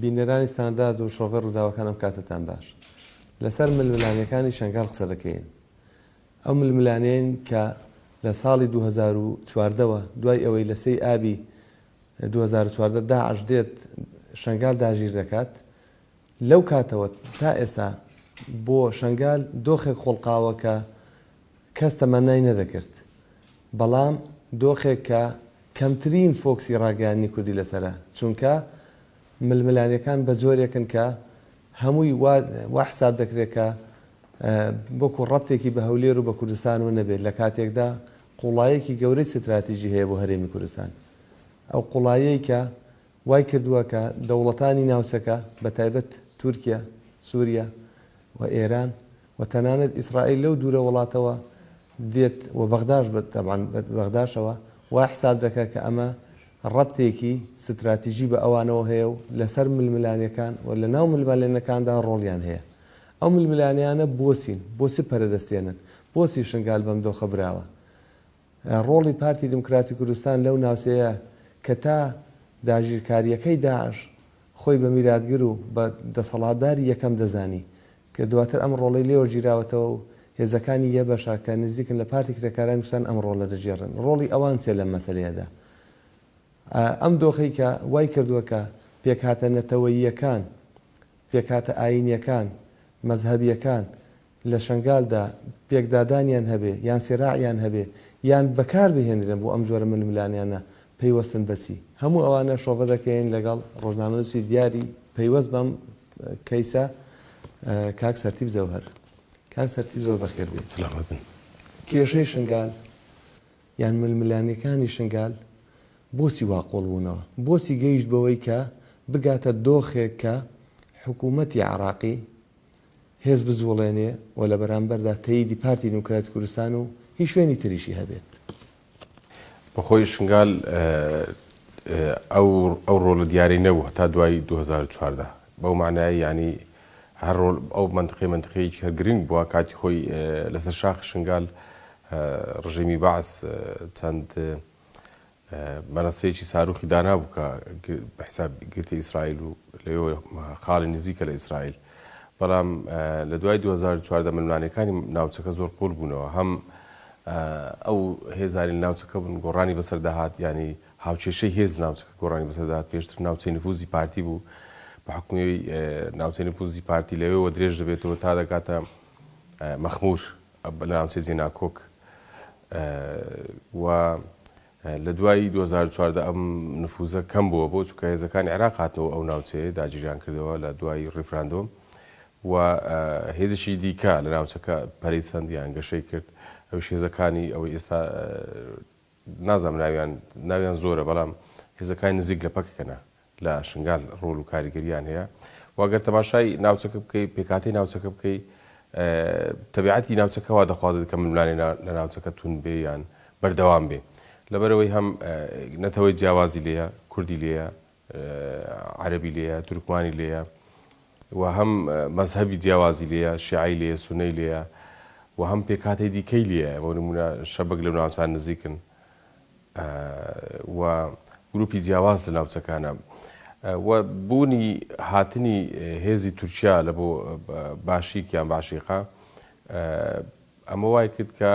بینەرانی ستاندارد و شڕۆڤەی ڕووداوەکان ئەم کاتەتان باش. لەسەر ململانێکانی شەنگال قسە دەکەین. ئەو ململانێین کە لە ساڵی دوو هەزار و چواردە وە دوای ئەوەی لە سێی ئابی دوو هەزار و چواردە داعش دێت شەنگال داگیر دەکات، لەو کاتەوە تا ئێستا بۆ شەنگال دۆخێک خوڵقاوە کە کەس تەمەنای نەدەکرد بەڵام دۆخێک کە کەمترین فۆکسی ڕاگەیاندنی کوردی لەسەرە چونکە ململانێکان بە جۆرێکن کە هەمووی وا وا حساب دەکرێت کە وەکو ڕەبتێکی بە هەولێر و بە کوردستانەوە نەبێت لە کاتێکدا قوڵایەکی گەورەی ستراتیژی هەیە بۆ هەرێمی کوردستان ئەو قوڵایەی کە وای کردووە کە دەوڵەتانی ناوچەکە بە تایبەت تورکیا سوریا و ئێران و تەنانەت ئیسرائیل لەو دوورە وڵاتەوە دێت و بەغداش بە تەبعەن بە بەغداشەوە وا حساب دەکا کە ئەمە ڕەبتێکی ستراتیژی بە ئەوانەوە هەیە و لە سەر ململانێکان و لە ناو ململانێکاندا ڕۆڵیان هەیە ئەو ململانێیانە بۆچین بۆچی پەرە دەستێنن بۆچی شنگال بەم دۆخە براوە ڕۆڵی پارتی دیموکراتی کوردستان لەو ناوچەیە کە تا داگیرکارییەکەی داعش خۆی بە میراتگر و بە دەسەڵاتداری یەکەم دەزانی کە دواتر ئەم ڕۆڵەی لێوە گیراوەتەوە و هێزەکانی یەبەشە کە نزیکن لە پارتی کرێکارانی کوردستان ئەم ڕۆڵە دەگێڕن. ڕۆڵی ئەوان چیە لەم مەسەلەیەدا؟ ئەم دۆخەی کە وای کردووە کە پێکهاتە نەتەوەییەکان، پێکهاتە ئایینیەکان، مەزهەبیەکان لە شەنگالدا پێکدادانیان هەبێ یان سیراعیان هەبێ یان بەکار بهێنرێن بۆ ئەم جۆرە ململانێیانە پەیوەستن بە چی؟ هەموو ئەوانە شۆڤە دەکەین لەگەڵ ڕۆژنامەنووسی دیاری پەیوەست بەم کەیسە کاک سەرتیپ جەوهەر. کاک سەرتیپ زۆر بەخێر بێیت. سەلامەت بن. کێشەی شنگال یان ململانێکانی شنگال بۆچی وا قووڵ بوونەوە؟ بۆچی گەیشت بەوەی کە بگاتە دۆخێک کە حکوومەتی عێڕاقی، هێز بجوڵێنێ و لە بەرامبەردا تەییدی پارتی دیموکراتی کوردستان و هی شوێنی تریشی هەبێت. بۆ خۆی شنگال ئەو ئەو ڕۆلە دیارەی نەبوو هەتا دوای دوو هەزار و چواردە بەو مانایەی یانی هەر ڕۆل ئەو مەنتقەی مەنتقەیەکی هەر گرنگ بووە کاتی خۆی لەسەر شاخی شنگال ڕژێمی بەعس چەند مەنەسەیەکی ساروخی دانابوو کە بە حیساب گرتە ئیسرائیل و لەوێ خاڵی نزیکە لە ئیسرائیل بەڵام لە دوای 2014 ململانێکانی ناوچەکە زۆر قوڵ بوونەوە هەم ئەو هێزانی ناوچەکە بوون گۆڕانی بەسەر داهات ینی هاوچێشەی هێز ناوچەکە گۆڕانی بەسەر داهات پێشتر ناوچەی نفوزی پارتی بوو بە حکومی ناوچەی نفوزی پارتی لەوێەوە درێژ دەبێتەوە تا دەکاتە مەخمور لە ناوچەی زیناکۆک و لە دوای دوو هەزار و چواردە ئەم نفوزە کەم بووە بۆ چونکە هێزەکانی عێراق هاتنەوە ئەو ناوچەیە داگیریان کردەوە لە دوای ڕیفراندۆم و هێزشی دیکە لە ناوچەکە پەرەی سەندیان گەشەی کرد ئەوش هێزەکانی ئەوەی ئێستا نازم ناویان ناویان زۆرە بەڵام هێزەکانی نزیک لە پەکەکەە لە شنگال ڕۆل و کاریگەرییان هەیە و ئەگەر تەماشای ناوچەکە بکەی پێکهاتەی ناوچەکە بکەی تەبیعەتی ناوچەکە وا دەخوازێت کە ململانێ لە ناوچەکە تون بێ یان بەردەوام بێ لەبەرەوەی هەم نەتەوەی جیاوازی لێیە کوردی لێیە عەربی لێیە تورکمانی لێیە و هەم مەزهبی جیاوازی لێە شعی لێ سونەی لێە و هەم پێکاتی دیکەی لێە بۆ نمونە شەبک لە ناوچان نزیکن و گروپی جیاواز لە ناوچەکانە و بوونی هاتنی هێزی تورکیا لە بۆ باشیک یان باشیقە ئەمە وای کرد کە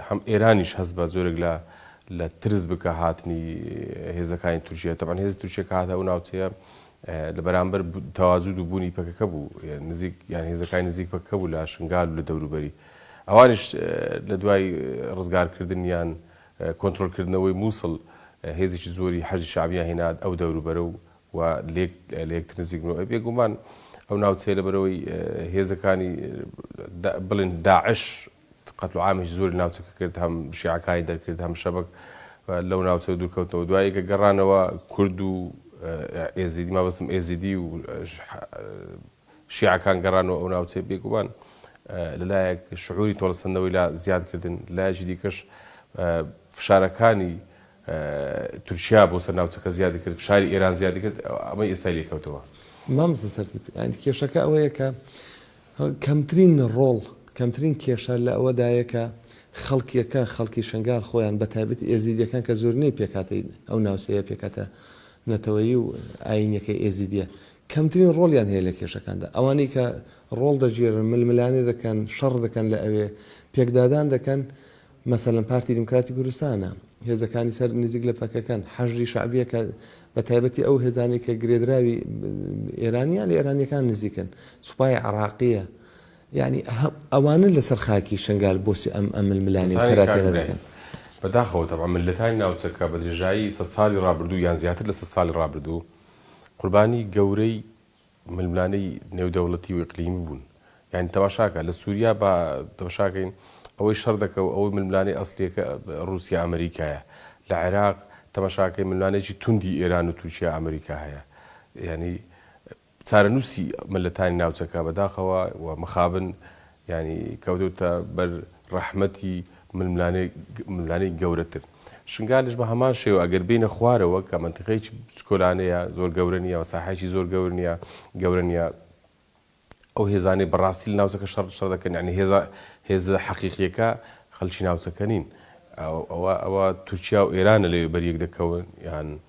هەم ئێرانیش هەست بە زۆرێک لە لە ترس بکە هاتنی هێزەکانی تورکیا تەبان هێز تورکیا کە هاتە ئەو ناوچەیە لە بەرامبەر تەوازود و بوونی پەکەکە بوو نزیک یان هێزەکانی نزیک پەکە بوو لە شنگال لە دەوروبەری ئەوانیش لە دوای ڕزگارکردنیان کۆنترۆڵکردنەوەی مووسڵ هێزێکی زۆری حەشدی شەعبیان هێنا ئەو دەوروبەرە و و لێک لەیەکتر نزیک بوون و بێگوومان ئەو ناوچەیە لەبەرئەوەی هێزەکانی بڵێن داعش قەتل و عامێکی زۆری لە ناوچەکە کرد هەم شیعەکانی دەرکرد هەم شەبەک لەو ناوچەوە دوورکەوتنەوە دوای کە گەڕانەوە کورد و ئێزیدی مەبەستم ئێزیدی و شیعەکان گەڕانەوە ئەو ناوچەیە، بێگومان لە لایەک شعوری تۆڵەسەندنەوەی لا زیاد کردن، لە لایەکی دیکەش فشارەکانی تورکیا بۆ سەر ناوچەکە زیادی کرد، فشاری ئێران زیادی کرد، ئەمەی ئێستای لێ کەوتەوە. مامۆستا سەرتیپ، یانی کێشەکە ئەوەیە کە کەمترین ڕۆڵ، کەمترین کێشە لە ئەوەدایە کە خەڵکیەکە، خەڵکی شنگال خۆیان بە تایبەتی ئێزیدیەکان کە زۆرینەی پێکهاتەی ئەو ناوچەیە، پێکهاتە نەتەوەیی و ئاینیەکەی ئێزیدیە، کەمترین ڕۆڵیان هەیە لە کێشەکاندا، ئەوانەی کە ڕۆڵ دەگێرن، ململانێ دەکەن، شەڕ دەکەن لە ئەوێ، پێکدادان دەکەن، مەسەلەن پارتی دیموکراتی کوردستانە، هێزەکانی سەر نزیک لە پەکەکەن، حەشدی شەعبییە کە بە تایبەتی ئەو هێزانەی کە گرێدراوی ئێران یان لە ئێرانییەکان نزیکن، سوپای عێراقییە، یانی ئەوانە لەسەر خاکی شنگال بۆسی ئەم ململانێ و تەراتێنە دەکەن. بەداخەوە تەبعەن میللەتانی ناوچەکە بە درێژایی سەد ساڵی ڕابردوو یان زیاتر لە سەد ساڵی ڕابردوو قوربانی گەورەی ململانێی نێودەوڵەتی و ئیقلیمی بوون. یانی تەماشاکە لە سوریا با تەمشاکەین ئەوەی شەڕ دەکە و ئەوەی ململانێی ئەسلیەکە روسیا ئەمریکایە. لە عێراق تەماشاکەی ململانێکی توندی ئێران و تورکیا ئەمریکا هەیە. یانی چارەنووسی مللەتانی ناوچەکە بەداخەوە و مخابن یانی کەوتۆتە بەر ڕەحمەتی ململانێی گەورەتر. شنگالیش بە هەمان شێوە ئەگەر بێینە خوارەوە کە مەنتیقەیەکی بچکۆلانەیە زۆر گەورە نیە و ساحەیەکی زۆر گەور نیە گەورە نیە ئەو هێزانەی بە ڕاستی لە ناوچەکە شەڕ شەڕ دەکەن یانی هێزە هێزە حەقیقیەکە خەڵکی ناوچەکە نین ئەوە ئەوە تورکیا و ئێرانە لەوێ بەر یەک دەکەون یان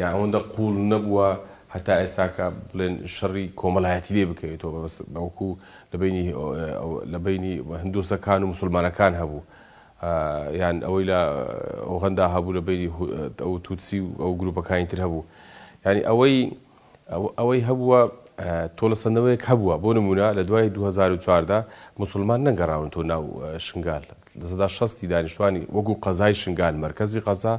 یان ئەوەندە قووڵ نەبووە هەتا ئێستا کە بڵێن شەڕی کۆمەڵایەتی لێ بکەوێتەوە، بەس بەڵکو لە بەینی لە بەینی هندۆسەکان و موسڵمانەکان هەبوو، یان ئەوەی لە ئۆغەندا هەبوو لە بەینی ئەو توتسی و ئەو گرووپەکانی تر هەبوو، یانی ئەوەی ئەوەی هەبووە تۆڵەسەندنەوەیەک هەبووە، بۆ نموونە لە دوای دوو هەزار و چواردە موسڵمان نەگەڕاونەتەوە ناو شنگال، لە سەدا شەستی دانیشتوانی وەکوو قەزای شنگال، مەرکەزی قەزا،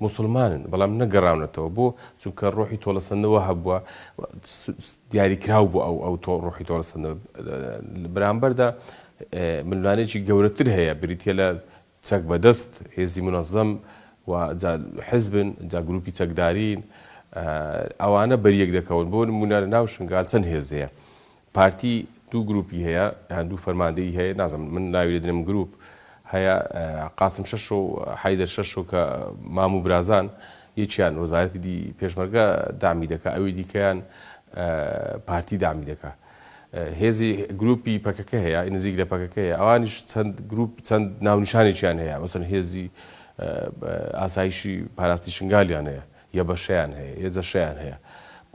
موسڵمانن، بەڵام نەگەڕاونەتەوە، بۆ؟ چونکە ڕۆحی تۆڵەسەندنەوە هەبووە، دیاریکراو بوو ئەو ئەو تۆ ڕۆحی تۆڵەسەندنەوە، لە بەرامبەردا ململانێکی گەورەتر هەیە بریتییە لە چەک بەدەست هێزی مونەزەم و جا حزبن جا گروپی چەکدارین ئەوانە بەریەک دەکەون بۆ نمونە لە ناو شنگال چەند هێز هەیە پارتی دوو گروپی هەیە یان دوو فەرماندەی هەیە نازم من ناوی دەدرێم گروپ هەیە قاسم شەش و حیدەر شەش و کە مامو برازان یەکیان وەزارەتی دی پێشمەرگە دامی دەکە ئەوی دیکەیان پارتی دامی دەکە هێزی گروپی پەکەکە هەیە ی نزیک لە پەکەکە هەیە ئەوانیش چەند گروپ چەند ناونیشانێکیان هەیە مەسەن هێزی ئاسایشی پاراستی شنگالیان هەیە یە بەشیان هەیە یە جەشیان هەیە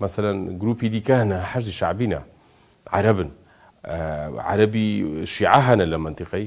مەسەن گروپی دیکانە حەشدی شعبینە عربن عربی شیعە هەنە لە منتیقەی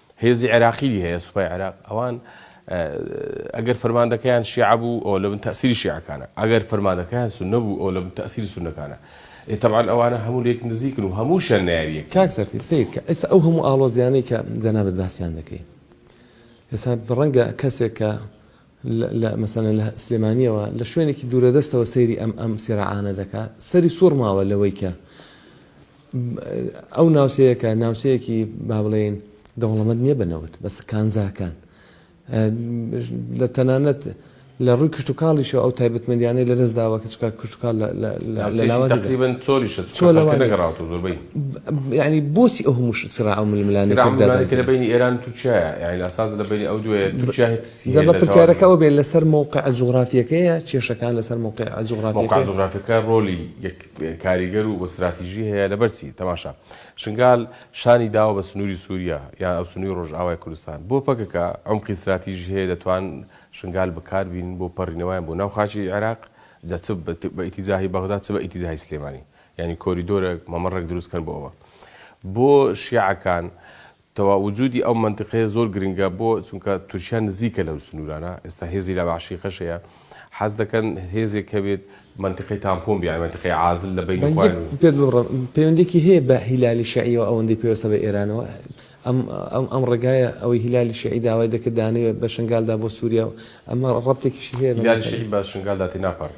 هێزی عێراقیی هەیە، سوپای عێراق، ئەوان ئەگەر فەرماندەکەیان شیعە بوو، ئەوە لەبن تەئسیری شیعەکانە، ئەگەر فەرماندەکەیان سوننە بوو، ئەوە لەبن تەئسیری سوننەکانە. ئێ تەبعەن ئەوانە هەموو لێک نزیکن و هەمووشیان نەیاری یەکن. کاک سەرتیپ، سەیر کە ئێستا ئەو هەموو ئاڵۆزییانەی کە جەنابت باسیان دەکەی، ئێستا ڕەنگە کەسێک کە لە مەسەلەن لە سلێمانیەوە لە شوێنێکی دوورەدەستەوە سەیری ئەم ئەم سیراعانە دەکا سەری سوڕماوە لەوەی کە ئەو ناوچەیەکە ناوچەیەکی با بڵێین دەوڵەمەند نییە بە نەوت بەس کانزاکان لە تەنانەت لە ڕووی کشت و کاڵیشەوە ئەو تایبەتمەندیانەی لە دەست داوە کەچکە کشتتوکال لەلاوەتقریبن چۆریشە نەگەڕاوتە زۆربەی ینی بۆچی ئەو هەموو سرا ئەو ململانێکردانێک لە بینی ئێران تووچە یعنی ئاساز لە بینی ئەو دوێ تووچە جا با پرسیارەکە ئەوە بێت لەسەر مەوقع جوغرافیەکەیە کێشەکان لەسەر مەوقع جوغرافیەکەیە؟ مەوقع جوغرافیەکە ڕۆلی کاریگەر و ستراتیژی هەیە لەبەر چی؟ تەماشا شنگال شانی داوە بە سنووری سووریا یان ئەو سنووری ڕۆژئاوای کوردستان بۆ پەکەکە عەمقی ستراتیژی هەیە دەتوان شنگال بەکار بینن بۆ پەڕینەوەیان بۆ ناو خاکی عێراق جا چ بە ئیتیجاهی بەغدا چ بە ئیتیجاهی سلێمانی یانی کۆریدۆرێک مەمەڕێک دروست کەن بۆ ئەوە بۆ شیعەکان تەوا وجودی ئەو مەنتقەیە زۆر گرنگە بۆ چونکە تورکیا نزیکە لەو سنورانە ئێستا هێزی لە بەعشیقەش هەیە حەز دەکەن هێزێک هەبێت مەنتقەی تامپۆن بیان مەنتقەی عازل لە بەینی بەنجی خۆیان پێت ببڕم پەیوەندیەکی هەیە بە هیلالی شیعیەوە ئەوەندەی پەیوەستە بە ئێرانەوە ئەم ئەم ئەم ڕێگایە ئەوەی هیلالی شیعی داوای دەکرد دانێ بە شنگالدا بۆ سوریا و ئەمە ڕەبتێکیشی هەیە بە هیلالی مەسەلە شیعی بە شنگالدا تێناپەڕی.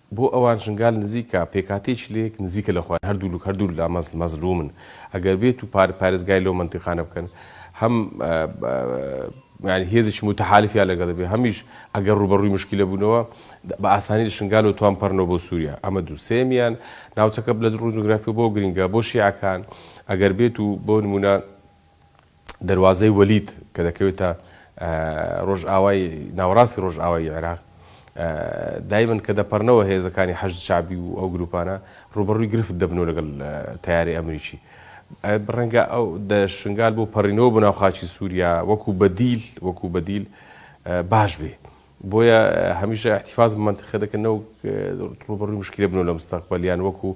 بۆ ئەوان شنگال نزیکە، پێکهاتەیەکی لەیەک نزیکە لە خۆیان، هەردوولک هەردوو لا مەزل مەزلوومن، ئەگەر بێت و پار پارێزگاری لەو مەنتیقانە بکەن، هەم یانی هێزێکی موتەحالفیان لەگەڵ بێت، هەمیش ئەگەر ڕووبەڕووی مشکیلە بوونەوە، بە ئاسانی لە شنگالەوە توان بپەڕنەوە بۆ سووریا. ئەمە دوو. سێیەمیان، ناوچەکە لە ڕووی جوگرافیەوە بۆ گرینگە بۆ شیعەکان، ئەگەر بێت و بۆ نموونە، دەروازەی وەلید کە دەکەوێتە ڕۆژئاوای ناوەڕاستی ڕۆژئاوای عێراق دایمن کە دەپەڕنەوە هێزەکانی حەشد شعبی و ئەو گروپانە ڕوبەڕووی گرفت دەبنەوە لەگەڵ تیاری ئەمریکی بڕەنگە ئەو شنگال بۆ پەڕینەوە بۆ ناوخاچی سووریا وەکو بەدیل وەکو بەدیل باش بێ بۆیە هەمیشە احتفاظ بە مەنتقە دەکەن نەوەک ڕووبەڕووی مشکلە بنەوە لە مستەقبەل یان وەکو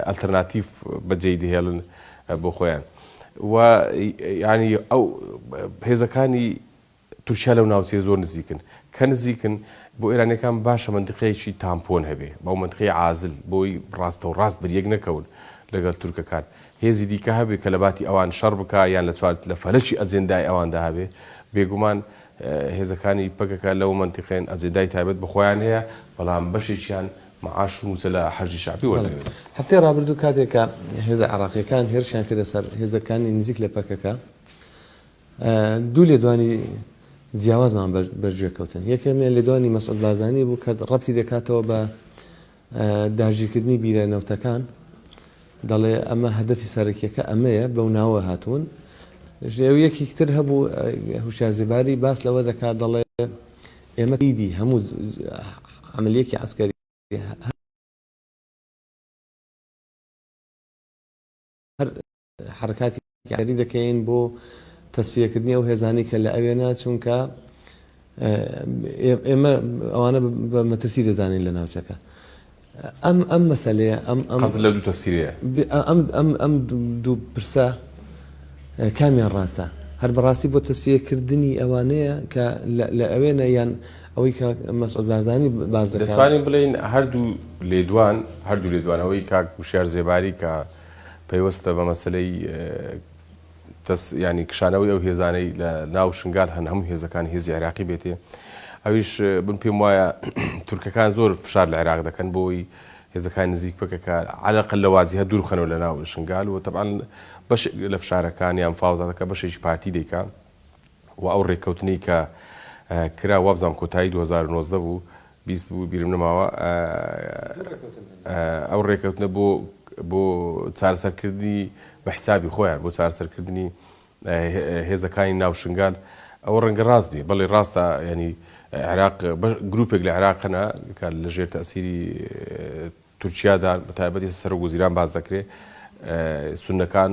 ئەلتەرناتیڤ بەجێی دەهێڵن بۆ خۆیان و یانی ئەو هێزەکانی تورکیا لەو ناوچەیە زۆر نزیکن کە نزیکن بۆ ئێرانەکان باشە مندقەیەکی تامپۆن هەبێ بەو منتقی عازل بۆی ڕاستە و ڕاست بریەک نەکەون لەگەڵ تورکەکان هێزی دیکە هەبێ کە لە باتی ئەوان شەڕ بک یان لە چوار لە فەرەکی ئەجێندای ئەواندا هەبێ بێگومان هێزەکانی پەکەکە لەو مەنتیقەیەن ئەجێندای تایبەت بە خۆیان هەیە، بەڵام بەشێکیان مەعاش و مووچە لە حەشدی شەعبی وەردەگرن. هەفتەی ڕابردوو کاتێک کە هێزە عێراقییەکان هێرشیان کردە سەر هێزەکانی نزیک لە پەکەکە، دوو لێدوانی جیاوازمان بەرگوێ کەوتن. یەکەمیان لێدوانی مەسعود بارزانی بوو کە ڕەبتی دەکاتەوە بە داگیرکردنی بیرە نەوتەکان دەڵێ ئەمە هەدەفی سەرەکیەکە ئەمەیە بەو ناوە هاتوون ژێو یەکیک تر هەبوو هوشیا زیباری باس لەوە دەکات دەڵێ ئێمە ئیدی هەموو عملیەکی عسکەری هەر حەرەکاتی کاری دەکەین بۆ تەسفیەکردنی ئەو هێزانەی کە لە ئەوێنە چونکە ئێمە ئەوانە بە مەترسی دەزانین لە ناوچەکە ئەم ئەم مەسلەیە ئەم ئەم لە دوو تەفسیرەیە ئەم ئەم ئەم دوو پرسە کامیان ڕاستە هەر بەڕاستی بۆ تەسفیەکردنی ئەوانەیە کە لە ئەوێنە یان ئەوەی کە مەسعود بازانی باز دەکانین بڵین هەردوو لێدوان هەردوو لێدوانەوەی کاک وشار زێباری کە پەیوەستە بە مەسەلەی تەس یانی کشانەوەی ئەو هێزانەی لە ناو شنگال هەن هەموو هێزەکان هێزی عێراقی بێتێ ئەویش بم پێم وایە تورکەکان زۆر فشار لە عێراق دەکەن بۆی هێزەکان نزیک بکەکە علاقە لە وازی هە دوورخەنەوە لە ناو شنگال و تەبان بەش لە فشارەکان یان فاوزادەکە بەشێکی پارتی دەیکە و ئەو رێککەوتنەی کە کرا وابزانم کۆتایی دوو هەزار و نۆزدە بوو بیست بوو بیرم نەماوە ئەو رێککەوتنە بۆ بۆ چارەسەرکردنی بە حسابی خۆیان بۆ چارەسەرکردنی هێزەکانی ناو شنگال ئەوە ڕەنگە ڕاست بێ بەڵێ ڕاستە ینی عێراق گروپێک لە عێراقەنە کە لە ژێر تەسیری تورکیادا بەتایبەتی سەرۆک وەزیران باز دەکرێ سنەکان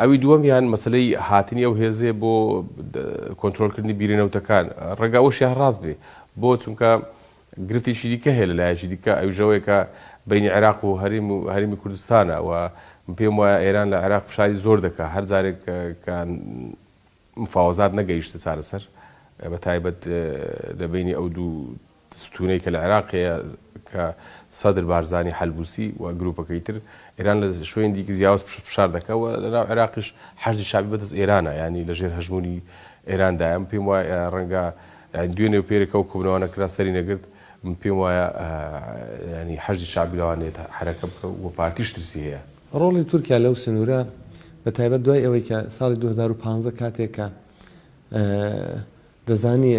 ئەوی دووەمیان مەسەلەی هاتنی ئەو هێزەیە بۆ کۆنتترۆلکردنی بیرە نەوتەکان ڕێگا ئەوشیان ڕاست بێ بۆ چونکە گرفتێکی دیکە هەیە لە لایەکی دیکە ئەوژەوەیەکە بینی عێراق و هەریم و هەرمی کوردستانە و پێم وایە ئێران لە عێراق فشاری زۆر دەکە هەر جارێک کە مفاوەزات نەگەیشتە چارەسەر بە تایبەت لە بینی ئەو دوو ستونەی کە لە عێراق هەیە کە سەدر بارزانی حەلبوسی و گروپەکەی تر ئێران لە شوێنی دیکە زیاوز پشت فشار دەکا و لە ناو عێراقیش حەشدی شەعبی بەدەست ئێرانە یانی لە ژێر هەژمونی ئێران دایە من پێم وایە ڕەنگە یانی دوێنێ و پێرێ کە ئەو کۆبنەوانە کرا سەری نەگرت من پێم وایە یانی حەشدی شەعبی لەوان نێت حەرەکە بکە و پارتیش ترسی هەیە. ڕۆڵی تورکیا لەو سنورە بە تایبەت دوای ئەوەی کە ساڵی دوو هەزار و پازدە کاتێک کە دەزانی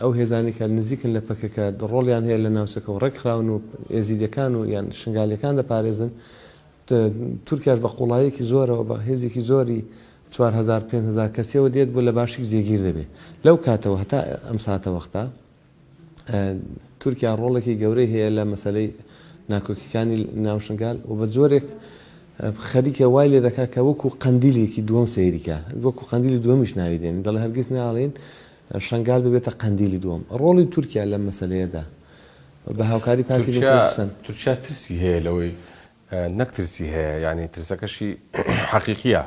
ئەو هێزانەی کە نزیکن لە پەکەکە ڕۆڵیان هەیە لە ناوچەکە و ڕێکخراون و ئێزیدیەکان و یان شنگالیەکان دەپارێزن، تورکیاش بە قوڵاییەکی زۆرەوە بە هێزێکی زۆری چوار هەزار پێنج هەزار کەسیەوە دێت بۆ لە باشیک جێگیر دەبێت لەو کاتەوە هەتا ئەم ساتەوەختە. تورکیا ڕۆڵێکی گەورەی هەیە لە مەسەلەی ناکۆکیەکانی ناو شنگال و بە جۆرێک خەریکە وای لێ دەکات کە وەکو قەندیلێکی دووەم سەیریکە وەکو قەندیلی دووەمیش ناوی دێن دەڵێ هەرگیز ناڵێن شنگال ببێتە قەندیلی دووەم ڕۆڵی تورکیا لەم مەسلەیەدا بە هاوکاری پارتی تورکیا- کوردستان تورکیا ترسی هەیە لەوەی نەک ترسی هەیە یانی ترسەکەشی حەقیقیە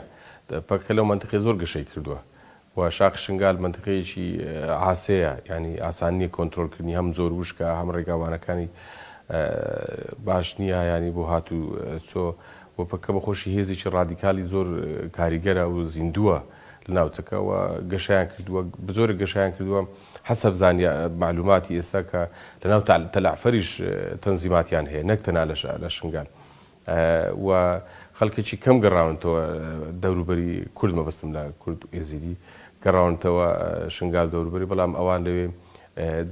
پکک لەو مەنتقەی زۆر گەشەی کردوە و شاخی شنگال مەنتیقەیەکی عاسێیە یانی ئاسان نیە کۆنترۆل کردنی هەم زۆر وشکە هەم ڕێگاوبانەکانی باش نیە یانی بۆ هات و چۆ و پککە بە خۆشی هێزێکی ڕادیکالی زۆر کاریگەرە و زیندووە لە ناوچەکە و گەشەیان کردووە بە جۆرێک گەشەیان کردووە حەسەب زانیا مەعلوماتی ئێستا کە لە ناو تەلەعفەریش تەنزیماتیان هەیە نەک تەنها لە شنگال. و خەڵکێکی کەم گەڕاونەتەوە دەوروبەری کورد مەبەستم لە کورد و ئێزیدی گەڕاونەتەوە شنگال و دەوروبەری بەڵام ئەوان لەوێ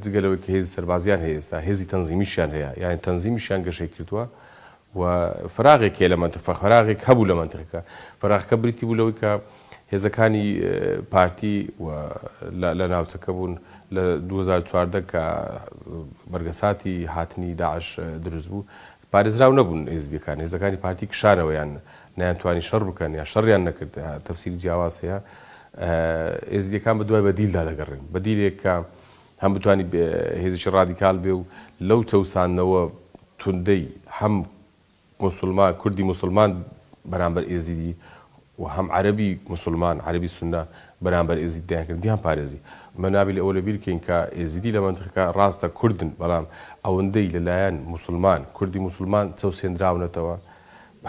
جگە لەوەی کە هێزی سەربازیان هەیە ئێستا هێزی تەنزیمیشیان هەیە یانی تەنزیمیشیان گەشەی کردووە و فەراغێک هەیە لە مەنتق فەراغێک هەبوو لە مەنتقەکە فەراغەکە بریتی بوو لەوەی کە هێزەکانی پارتی و لە ناوچەکە بوون لە دوو هەزار و چواردە کە بەرگەساتی هاتنی داعش دروست بوو پارێزراو نەبوون ئێزدیەکان، هێزەکانی پارتی کشانەوە یان نەیانتوانی شەڕ بکەن یان شەڕیان نەکرد تەفسیری جیاواز هەیە ئێزدیەکان بە دوای بەدیلدا دەگەڕێن بەدیلێک کە هەم بتانی هێزیی ڕادیکال بێ و لەو چەوساندنەوە توندەی هەم مسلمان کوردی مسلمان بەرامبەر ئێزیدی و هەم عەرەبی موسلمان، عەرەبی سوننە، بەرامبەر ئێزید دەیانکرد بیانپارێزی. ئەمە نابێ ئەوە لەبیر بکەین کە ئێزیدی لە مەنتقەکە ڕاستە کوردن، بەڵام ئەوەندەی لە لایەن موسلمان، کوردی موسلمان چەوسێندراونەتەوە،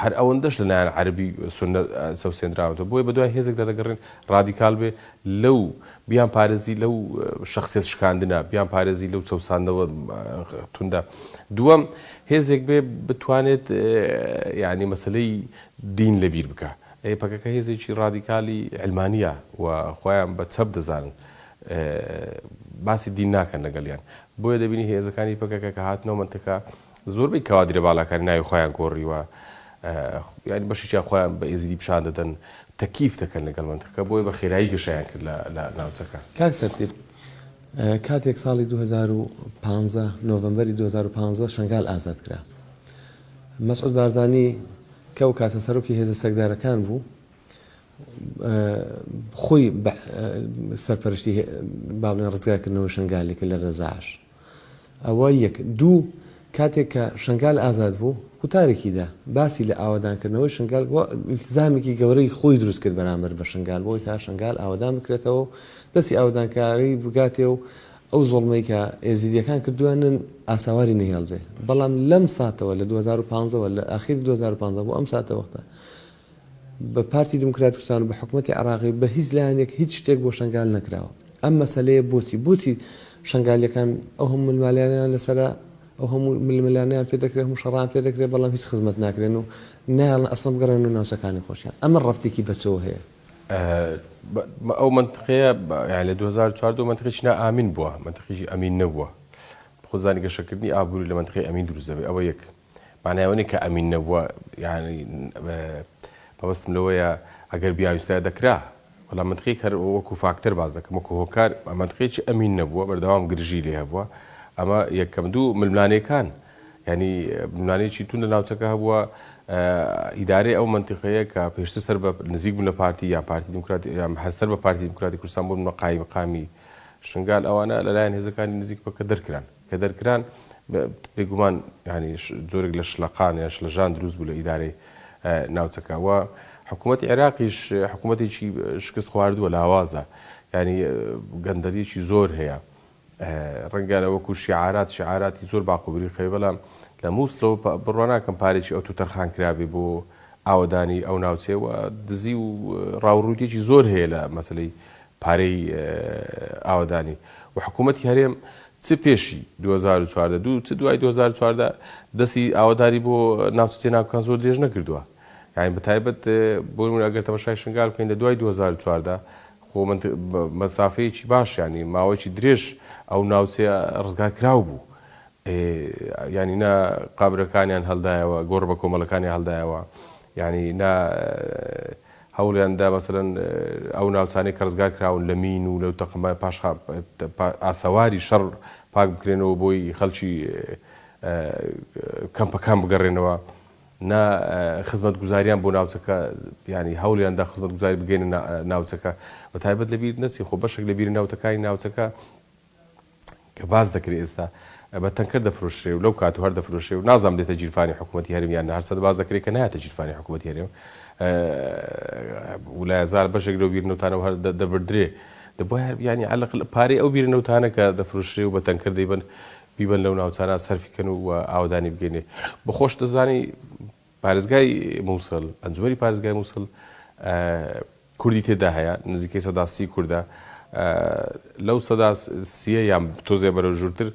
هەر ئەوەندەش لە لایەن عەرەبی سوننە چەوسێندراونەتەوە. بۆیە بە دوای هێزێکدا دەگەڕێن ڕادیکال بێ لەو بیانپارێزی لەو شەخسیەت شکاندنە، بیانپارێزی لەو چەوساندنەوە توندە. دووەم، هێزێک بێ بتوانێت یانی مەسەلەی دین لەبیر بکە. ئەی پەکەکە هێزێکی ڕادیکالی عەلمانییە و خۆیان بە چەپ دەزانن. باسی دین ناکەن لەگەڵیان. بۆیە دەبینی هێزەکانی پەکەکە کە هاتنەوە مەنتەکە زۆربەی کەوادرە باڵاکانی ناوی خۆیان گۆڕیوە. یانی بەشێکیان خۆیان بە ئێزیدی پیشان دەدەن. تەکییف دەکەن لەگەڵ مەنتەکە. بۆیە بە خێرایی گەشەیان کرد لە ناوچەکە. کاک سەنتیر، کاتێک ساڵی دوو هەزار و پازدە، نۆڤەمبەری دوو هەزار و پازدە شەنگال ئازاد کرا. مەسعود بارزانی کە ئەو کاتە سەرۆکی هێزە چەکدارەکان بوو خۆی سەرپەرشتی باڵێن ڕزگارکردنەوە شنگالی کە لە دەزاش ئەوە یەک دوو کاتێک کە شنگال ئازاد بوو قوتارێکیدا باسی لە ئاوادانکردنەوەی شنگال بۆ التزامێکی گەورەی خۆی دروست کرد بەرامبەر بە شنگال بۆی تا شنگال ئاوادان بکرێتەوە دەستی ئاودانکاری بگاتێ و ئەو زوڵمەی کە ئێزیدیەکان کردویانن ئاساواری نەهێڵرێ بەڵام لەم ساتەوە لە دوو هەزار و پازدە وە لە ئاخیری دوو هەزار و پازدە بۆ ئەم ساتە وەختە بە پارتی دیموکراتی کوردستان و بە حکومەتی عراقی بە هیچ لایەنێک هیچ شتێک بۆ شەنگال نەکراوە ئەم مەسەلەیە بۆچی بۆچی شەنگالیەکان ئەو هەموو ملمالانیان لەسەرە ئەو هەموو ململانیان پێ دەکرێت هەموو شەڕان پێ دەکرێت بەڵام هیچ خزمەت ناکرێن و نایڵن ئەسڵم گەڕێن و ناوچەکانی خۆشیان ئەمە ڕەفتێکی بەچەوە هەیە ئەو مەنتقەیە لە دوو هەزار و چوار دەوە مەنتقێکی نا ئامین بووە، مەنتقێکی ئەمین نەبووە. خۆ زانی گەشەکردنی ئابووری لە مەنتقەی ئەمین دروست دەبێت. ئەوە یەک. مانای ئەوە نییە کە ئەمین نەبووە، یانی مەبەستم لەوەیە ئەگەر بیانویستایە دەکرا. بەڵام مەنتقێک هەر وەکوو فاکتەر باس دەکەم، وەکوو هۆکار مەنتقێکی ئەمین نەبووە، بەردەوام گرژیی لێ هەبووە. ئەمە یەکەم. دوو، ململانێکان. یانی ململانێیەکی توند لە ناوچەکە هەبووە، ئیدارەی ئەو مەنتیقەیە کە پێشتر سەر بە نزیک بوون لە پارتی یان پارتی دیموکراتی یان هەر سەر بە پارتی دیموکراتی کوردستان بوون بە قایمقامی شنگال ئەوانە لە لایەن هێزەکانی نزیک پەککە دەرکران، کە دەرکران بێ گومان یانی جۆرێک لە شلەقان یان شلەژان دروست بوو لە ئیدارەی ناوچەکە و حکوومەتی عێراقیش حکوومەتێکی شکست خواردووە لاوازە یانی گەندەلیی زۆر هەیە. ڕەنگە وەکو شیعارات شیعاراتی زۆر باق و بریقەبێ بەڵام لە موسڵەوە بڕوا ناکەم پارەیەکی ئەوتۆ تەرخان کرابێ بۆ ئاوەدانی ئەو ناوچەیە و دزی و ڕاوڕووتێکی زۆر هەیە لە مەسەلەی پارەی ئاوەدانی و حکوومەتی هەرێم چ پێشی 2014 دوو چ دوای 2014 دەستی ئاوەداری بۆ ناوچە جێناکان زۆر درێژ نەکردووە یاین بەتایبەت بۆ ئەگەر تەمەشای شنگال بکەین لە دوای 2014 خۆ من مەسافەیەکی باش یانی ماوەیەکی درێژ ئەو ناوچەیە ڕزگار کراو بوو ئێ یانی نا قەبرەکانیان هەلدایەوە گۆڕ بە کۆمەلەکانیان هەلدایەوە یانی نا هەوڵیان دا مەسەلەن ئەو ناوچانەی کە ڕزگار کراون لە مین و لەو تەقمە پاش ئاسەواری شەڕ پاک بکرێنەوە بۆی خەلکی کەمپەکان بگەڕێنەوە نا خزمەتگوزاریان بۆ ناوچەکە یانی هەوڵیان دا خزمەتگوزاری بگەینە نا ناوچەکە بە تایبەت لە بیر نەچی خۆ بەشێک لە بیرە ناوتەکانی ناوچەکە کە باس دەکرێ ئێستا بە تەنکەر دەفرۆشرێ و لەو کات و هەر دەفرۆشێ و نازام دێتە گیرفانی حکوومەتتی هەرێم یان هەر چەند باس دەکرێ کە نایەتە گیرفانی حکوومەتتی هەرێم ولایە زار بەشێک لەو بیر نەوتانە و هەر دەبردرێ دەبوایە یانی عەلەقل پارەی ئەو بیر نەوتانە کە دەفرۆشرێ و بە تەنکەر دەیبەن بیبەن لەو ناوچانە سەرفی کەن و ئاوەدانی بگەنێ بە خۆش دەزانی پارێزگای مووسڵ ئەنجومەری پارێزگای مووسڵ کوردی تێدا هەیە نزیکەی سەداسی کووردە لەو سەدا سیە یان تۆزێ بەرە ژورتر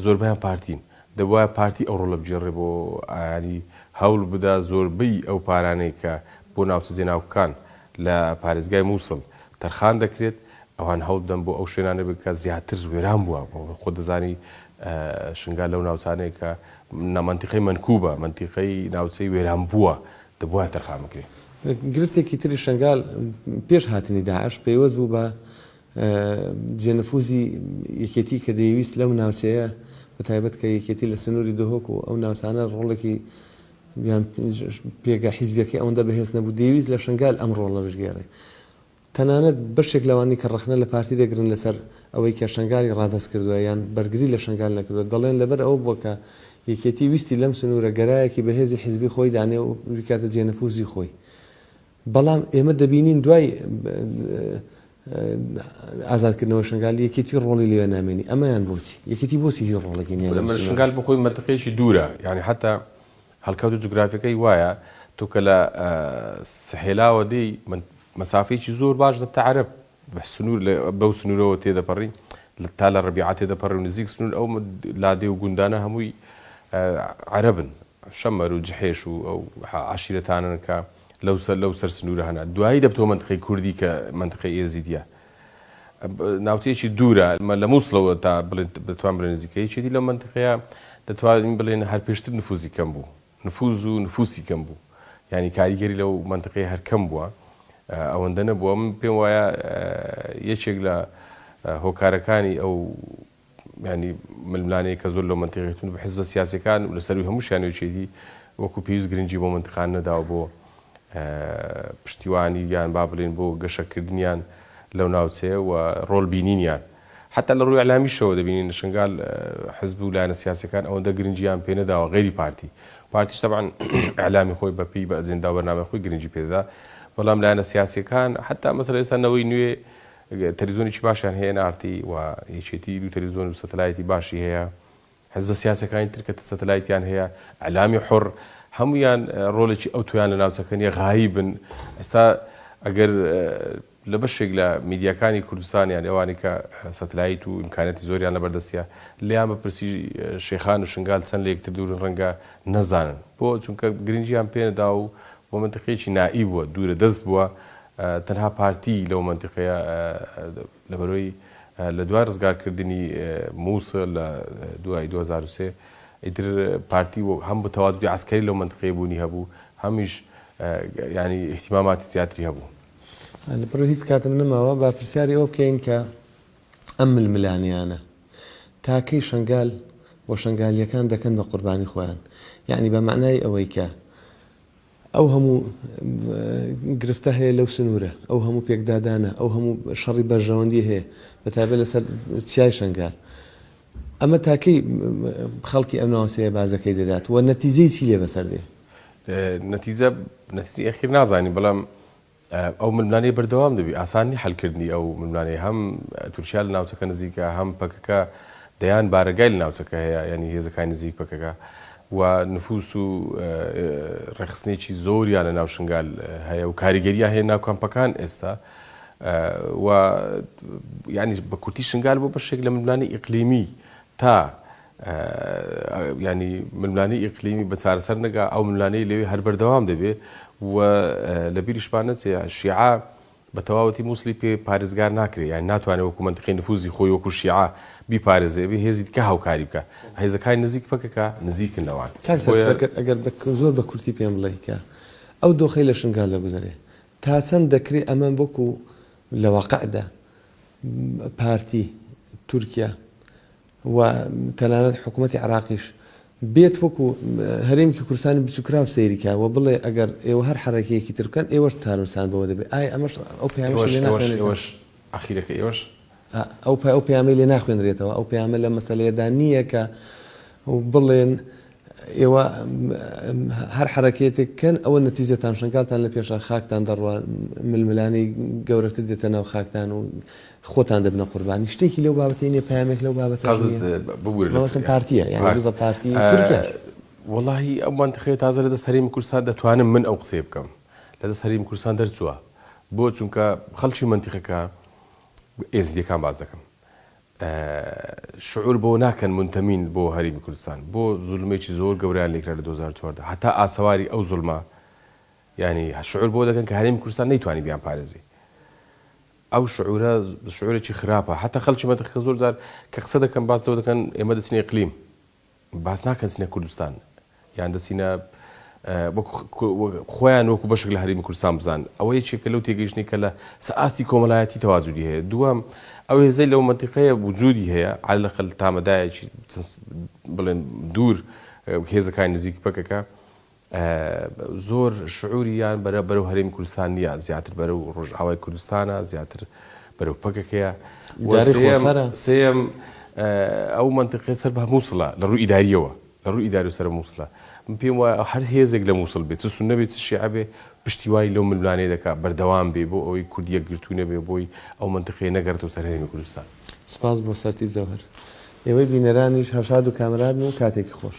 زۆربیان پارتین دەبواە پارتی ئەو ڕۆڵە بگێڕێ بۆ ئاری هەوڵ بدا زۆربەی ئەو پارانەی کە بۆ ناوچە جێناوکان لە پارێزگای مووسڵ تەرخان دەکرێت ئەوان هەوڵبدەن بۆ ئەو شوێنانە بێن کە زیاتر وێران بووە، خۆت دەزانی شنگال لەو ناوچانەیە کە مەنتیقەی مەنکوبە، مەنتیقەی ناوچەی وێران بووە، دەبوایە تەرخان بکرێت. گرفتێکی تری شنگال پێش هاتنی داعش پەیوەست بوو بە جێ نفوزی یەکێتی کە دەیویست لەو ناوچەیە بە تایبەت کە یەکێتی لە سنووری دهۆک و ئەو ناوچانە ڕۆڵێکی یان پێگە حیزبیەکەی ئەوەندە بەهێز نەبوو دەیویست لە شنگال ئەم ڕۆڵە بشگێڕێ. تەنانەت بەشێک لەوانەی کە ڕەخنە لە پارتی دەگرن لەسەر ئەوەی کە شەنگالی ڕادەست کردووە یان بەرگری لە شەنگال نەکردووە، دەڵێن لەبەر ئەوە بووە کە یەکێتی ویستی لەم سنوورە گەرایەکی بەهێزی حیزبی خۆی دانێ و بیکاتە جێ نفووزی خۆی. بەڵام ئێمە دەبینین دوای ئازادکردنەوەی شەنگال یەکێتی ڕۆڵی لەوێ نامێنی. ئەمەیان بۆچی؟ یەکێتی بۆچی هیچ ڕۆڵێکی نییە لەم سنوورە؟ شەنگال بۆ خۆی مەنتقەیەکی دوورە، یانی حەتتا هەڵکەوتە جوگرافیەکەی وایە تۆ کە لە سحێلاوە دێی مەسافەیەکی زۆر باش دەبتە عەرەب سنوور بەو سنوورەوە تێدەپەڕی تا لە ڕبیعە تێدەپەڕی و نزیک سنوور ئەو لادێ و گوندانە هەمووی عەرەبن شەمەر و جحێش و ئەو عشیرەتانن کە لەو سەر لەو سەر سنوورە هەنا دوایی دەبتەوە منتقی کوردی کە منتقی ئێزیدیە ناوچەیەکی دوورە لە موسڵەوە تا بڵێن دەتوان بڵێن نزیکەیەکێتی لەو مەنتقەیە دەتوانین بڵێن هەر پێشتر نفوزی کەم بوو نفوز و نفوسی کەم بوو یعنی کاریگەری لەو مەنتقەیە هەر کەم بووە ئەوەندە نەبووە من پێم وایە یەکێک لە هۆکارەکانی ئەو یانی ململانێی کە زۆر لەو مەنتیقەی توند بە حزبە سیاسیەکان و لەسەروی هەمووشیان یەکێتی وەکو پێویست گرنگی بۆ مەنتقان نەداوە بۆ پشتیوانی یان با بڵێن بۆ گەشەکردنیان لەو ناوچەیە و ڕۆل بینینیان حتا لە ڕووی ئەلامیشەوە دەبینین شنگال حزب و لایەنە سیاسەکان ئەوەندە گرنگیان پێ نەداوە غێری پارتی پارتیش تەبان ئەلامی خۆی بەپی بە ئەجندا بەرنامە خۆی گرنگی پێدا بەڵام لایەنە سیاسەکان حتا مەسەر ئێستا نەوەی نوێ تەلەفزیۆنێکی باشیان هەیە، ئێن ئاڕ تی، و یەکێتی دوو تەلەفزیۆن و سەتەلایتی باشی هەیە. حزبە سیاسیەکانی تر کە سەتەلایتیان هەیە، ئیعلامی حوڕ، هەموویان ڕۆڵێکی ئەوتۆیان لە ناوچەکە نیە، غایبن. ئێستا ئەگەر لە بەشێک لە میدیاکانی کوردستان یان ئەوانەی کە سەتەلایت و ئیمکانیاتی زۆریان لە بەردەستە، لێیان بپرسی شێخان و شنگال چەند لە یەکتر دوورن ڕەنگە نەزانن. بۆ؟ چونکە گرنگیان پێنەداوە و بۆ مەنتقێکی نائی بووە، دوورە دەست بووە، تەنها پارتی لەو مەنتیقەیە لەبەرەوەی لە دوای ڕزگار کردنی موسڵ لە دوای دوو هەزار و سێ ئیتر پارتی هەم بە تەوادودی عەسکەری لەو مەنتیقەیە بوونی هەبوو هەمیش یانی ئیهتیماماتی زیاتری هەبوو. لە بڕی هیچ کاتم نەماوە با پرسیاری ئەوە بکەین کە ئەم ململانێیانە تا کەی شەنگال و شەنگالییەکان دەکەن بە قوربانی خۆیان یانی بە مەعنای ئەوەی کە. ئەو هەموو گرفتە هەیە لەو سنوورە، ئەو هەموو پێکدادانە، ئەو هەموو شەڕی بەرژەوەندی هەیە، بە تایبەت لەسەر چیای شەنگال. ئەمە تا کەی خەڵکی ئەم ناوچەیە بازەکەی دەدات و نەتیجەی چی لێ بەسەر دێ؟ نەتیجە، نەتیجەی ئەخیر نازانین، بەڵام ئەو ململانێی بەردەوام دەبی، ئاسان نی حەل کردنی ئەو ململانێی، هەم تورکیا لە ناوچەکە نزیکە، هەم پەکەکە دەیان بارەگای لە ناوچەکە هەیە، یانی هێزەکانی نزیک پەکەکە و نفوس و ڕێکخستنێکی زۆریان لە ناو شنگال هەیە و کاریگەریان هەیە ناو کەمپەکان ئێستا و یانی بە کورتی شنگال بۆ بەشێک لە ململانێی ئیقلیمی تا یانی ململانێی ئیقلیمی بە چارەسەر نەگا، ئەو ململانێی لەوێ هەر بەردەوام دەبێ و لە بیریشمان نەچێ شیعە بە تەواوەتی موسڵی پێ پارێزگار ناکرێ، یانی ناتوانێ وەکوو مەنتقی نفووزی خۆی وەکوو شیعە بیپارێزێ، ئەبێ هێزی دیکە هاوکاری بکا. هێزەکانی نزیک پەکەکە نزیکن لەوان. کاک سەرفراز ئەگەر بە زۆر بە کورتی پێم بڵێی کە ئەو دۆخەی لە شنگال دەگوزەرێ تا چەند دەکرێ ئەمە وەکوو لە واقعدا پارتی تورکیا و تەنانەت حکومەتی عێراقیش بێت وەکو هەرێمکی کوردستانی بچوکراو سەیری کا و بڵێ ئەگەر ئێوە هەر حەرەکەیەکی تر بکەن ئێوەش تانوتان بەوە دەبێت ئایا ئەمەش ئەو پەیامەشی لێ ناخوێنرێتەوە؟ ئاخیرەکە ئێوەش ئەو پەیامەی لێ ناخوێنرێتەوە ئەو پەیامە لەم مەسەلەیەدا نییە کە بڵێن ئێوە هەر حەرەکەیەتێک بکەن ئەوە نەتیجەتان شەنگالتان لە پێشە خاکتان دەڕوا ململانێی گەورەتر دێتە ناو خاکتان و خۆتان دەبنە قوربانی شتێکی لەو بابەتەی نیە پەیامێک لەو بابەتە قەزت ببورە لە مەبەستم پارتیە یانی دزە پارتی تورکیاش وەڵاهی ئەو مەنتقەیە تازە لە دەست هەرێمی کوردستان دەتوانم من ئەو قسەیە بکەم لە دەست هەرێمی کوردستان دەرچووە بۆ چونکە خەڵکی مەنتیقەکە ئێزدیەکان باس دەکەم شعور بەوە ناکەن مونتەمین بۆ هەرێمی کوردستان بۆ زولمێکی زۆر گەورەیان لێکرا لە دوو هەزار و چواردە هەتا ئاسەواری ئەو زولمە یانی شعور بۆ دەکەن کە هەرێمی کوردستان نەیتوانی بیان پارێزی ئەو شعورە شعورێکی خراپە هەتا خەلکی مەتەخکە زۆر جار کە قسە دەکەن باس لەوە دەکەن ئێمە دەچنی ئیقلیم باس ناکەن چنە کوردستان یان دەچینە وەکو خۆیان وەکو بەشک لە هەرمی کوردستان بزان ئەوە یەکێکە لەو تێگەیشتنی کە لە سەئاستی کۆمەلایەتی تەواجودی هەیە دووەم ئەو هێزەی لەو منتیقەیە وجودی هەیە عال لەقل تامەدایەکی بڵێن دوور هێزەکانی نزیک پەکەکە زۆر شعوری یان بەرە بەرەو هەرێمی کوردستان نیە زیاتر بەرەو ڕۆژئاوای کوردستانە زیاتر بەرەو پەکەکەیە و سێیەم سێیەم ئەو مەنتقەی سەر بە موسڵە لە ڕووی ئیداریەوە لە ڕووی ئیداری و سەر موسڵە من پێم وایە هەر هێزێک لە موسڵ بێ چ سوننە بێ چ شیعە بێ پشتیوانی لەو ململانێ دەکا بەردەوام بێ بۆ ئەوەی کورد یەکگرتوو نەبێ بۆی ئەو مەنتقەیە نەگەڕێتەوە سەر هەرێمی کوردستان. سپاس بۆ سەرتیپ جەوهەر. ئێوەی بینەرانیش هەر شاد و کامەران و کاتێکی خۆش.